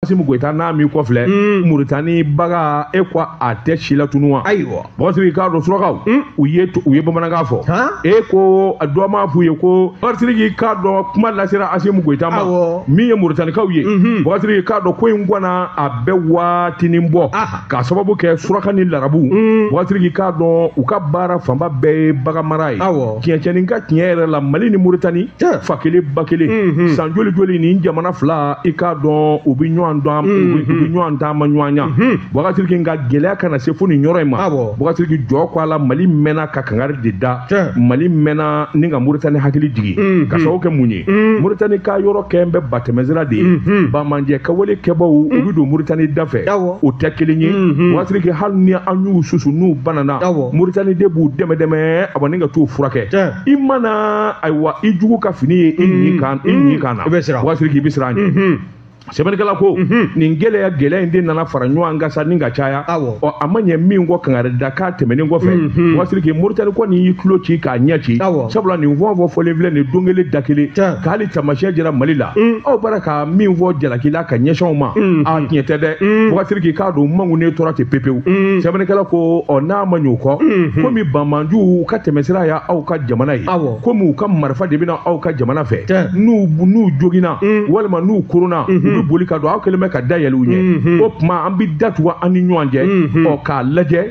Asimu Goyita n'a m'i kɔfilɛ Muritani bagan e ko a tɛ silatunu wa ayiwa Basiriki k'a dɔn surakaw u ye u ye bamanankan fɔ e ko dɔ m'a f'u ye ko Basiriki k'a dɔn kuma lasera Asimu Goyita ma min ye Muritanikaw ye Basiriki k'a dɔn ko in kɔni a bɛ waatinin bɔ. k'a sababu kɛ suraka ni larabu mm. Basiriki k'a dɔn u ka baara fanba bɛɛ ye baganmara ye tiɲɛcɛnin ka tiɲɛ yɛrɛ la mali ni muritani fa kelen ba kelen mm-hmm. san joli joli nin jamana fila i k'a dɔn u bɛ ɲɔgɔn dɔn mm-hmm. u bɛ ɲɔgɔn taamaɲɔgɔnya mm-hmm. Basiriki nka gɛlɛya kana se fo nin yɔrɔ in ma Basiriki jɔ ko a la mali mɛnna ka kangari de da mali mɛnna ni ka muritani hakili jigin k'a sababu kɛ mun ye mm. muritani ka yɔrɔ kɛlen bɛ batɛmɛsira de ye banbaanci ka wale kɛbaaw u bɛ don muritani da fɛ o tɛ kelen ye Basiriki hali ni an y'u susu n'u banana moritani de b'u dɛmɛ dɛmɛ ani ka t'u furakɛ i mana ayiwa i jugu ka fini ye i ɲin kan na Basiriki i bɛ siran a ɲɛ sɛbɛnnikɛla ko nin gɛlɛya gɛlɛya in de nana fara ɲɔgɔn kan sa ni ka caya ɔ a ma ɲɛ min kɔ kangari da k'a tɛmɛnen kɔfɛ Basiriki moritani kɔni y'i tulo ci k'a ɲɛ ci sabula nin fɛn o fɛn fɔlen filɛ nin don kelen da kelen ka hali taamasiyɛn jira mali la aw bɔra ka min fɔ jalaki la ka ɲɛsin anw ma a tiɲɛ tɛ dɛ Basiriki i k'a dɔn mankunnen tora ten pepewu sɛbɛnnikɛla ko ɔ n'a ma ɲ'o kɔ komi banbaanciw ka tɛmɛsira ye aw ka jamana ye komi u ka marifa de bɛ na aw ka jamana fɛ n'u n'u joginna walima n'u koronna u bɛ boli ka don aw kɛlen bɛ ka da yɛlɛ u ɲɛ o tuma an bɛ da tugu an ni ɲɔgɔn cɛ ɔ k'a lajɛ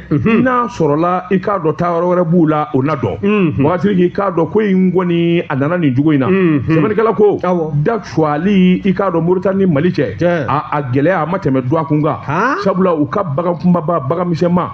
n'a sɔrɔla i k'a dɔn taa yɔrɔ wɛrɛ b'u la o na dɔn Basiriki i k'a dɔn ko in kɔni a nana nin cogo in na sɛbɛnnikɛla ko da tuguli i k'a dɔn moritani ni mali cɛ Tiɲɛ. a a gɛlɛya a ma tɛmɛ dɔgɔkun kan Han? sabula u ka bagan kunbaba bagan misɛnma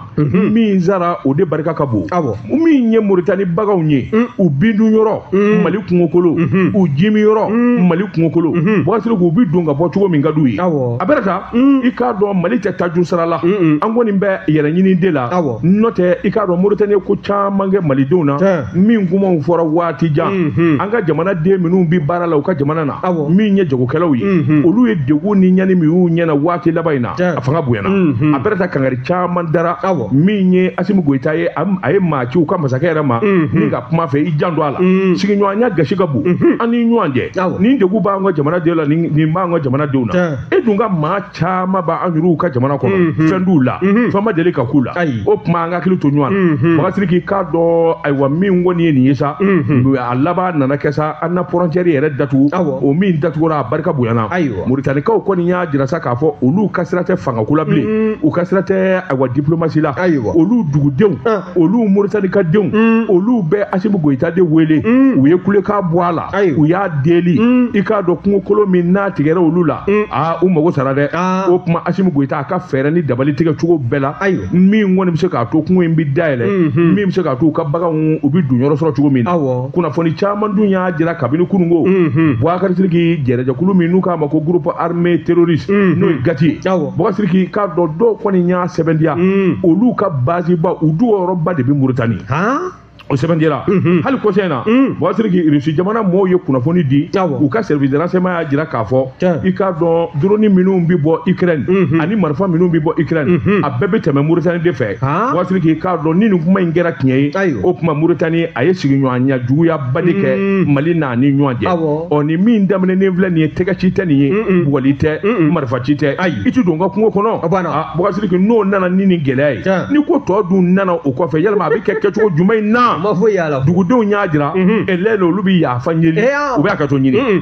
min sara o de barika ka bon Awɔ. min ye moritani baganw ye u bindun yɔrɔ mali kungokolo u jimin yɔrɔ mali kungokolo Basiriki u bi don ka bɔ cogo min ka d'u ye Awɔ. a bɛɛ n'a ta i k'a dɔn mali tɛ tajuru sara la an kɔni bɛ yɛrɛɲini de la Awɔ. n'o tɛ i k'a dɔn moritani ye ko caman kɛ malidenw na Tiɲɛ. min kumaw fɔra waati jan mhm. an ka jamana den minnu bɛ baara la u ka jamana na min ye jagokɛlaw ye mhm. olu ye degun ni ɲani min y'u ɲɛna waati laban in na a fanga bonyana mhm. a bɛɛ n'a ta kangari caman dara min ye asimu goyita ye a ye maa ci u ka masakɛ yɛrɛ ma min ka kuma fɛ i janto a la sigiɲɔgɔnya gasi ka bon an ni ɲɔgɔn cɛ nin degun b'an ka jamana denw la nin b'an ka jamana denw na e dun ka maa caman b'an yɛrɛw ka jamana kɔnɔ mhm. fɛn t'u la mhm. fɛn ma deli ka k'u la o tuma an ka hakili to ɲɔgɔn na mhm. Basiriki i k'a dɔn ayiwa min kɔni ye nin ye sa a laban nana kɛ sa an na fɔrɔncɛri yɛrɛ datugu o min datugura a barika bonyana moritanikaw kɔni y'a jira sa k'a fɔ olu ka sira tɛ fangako la bilen u ka sira tɛ ayiwa diplomasi la olu dugudenw ah. olu moritanika denw olu bɛ asimu goyita de wele u ye kulekan bɔ a la u y'a deli mm. i k'a dɔn kungokolo min n'a tigɛra olu la mm. aa u mago sara dɛ ah. o tuma asimi goyita a ka fɛɛrɛ ni dabali tigɛ cogo bɛɛ la min kɔni bɛ se k'a to kungo in bɛ dayɛlɛ mm-hmm. min bɛ se k'a to u ka baganw u bɛ dun yɔrɔ sɔrɔ cogo min na kunnafoni caman dun y'a jira kabini kununko mm-hmm. bubakari siriki jɛrɛjɛkulu min n'u k'a ma ko groupe armé terroriste mm-hmm. n'o ye gati ye bubakari siriki k'a dɔn dɔw kɔni y'a sɛbɛntiya mm. olu ka baziba u dogo yɔrɔba de bɛ muritani o sɛbɛntiyara mhm. hali kɔsa in na mhm. bubakari siriki irisi jamana mɔɔw ye kunnafoni di u ka service de renseignement y'a jira k'a fɔ i k'a dɔn drone minnu bɛ bɔ ukraine mhm. ani marifa minnu bɛ bɔ ukraine a bɛɛ bɛ tɛmɛ mauritanie de fɛ bubakari siriki i k'a dɔn ni nin kuma in kɛra tiɲɛ ye o tuma mauritanie a ye sigiɲɔgɔnya juguyaba de kɛ mali n'a ni ɲɔgɔn cɛ ɔ nin min daminɛnen filɛ nin ye tɛgɛ ci tɛ nin ye bugɔli tɛ marifa ci tɛ i tɛ don n ka kungo kɔnɔ Bubakari siriki n'o nana ni nin gɛlɛya ye Tiɲɛ. ni ko tɔ dun nana o kɔfɛ yalima a bɛ kɛ kɛcogo jumɛn in na ma foyi y'a la dugudenw y'a jira Mhm. elɛn olu bɛ yafa ɲini Eh, ah. u bɛ hakɛto ɲini Mm.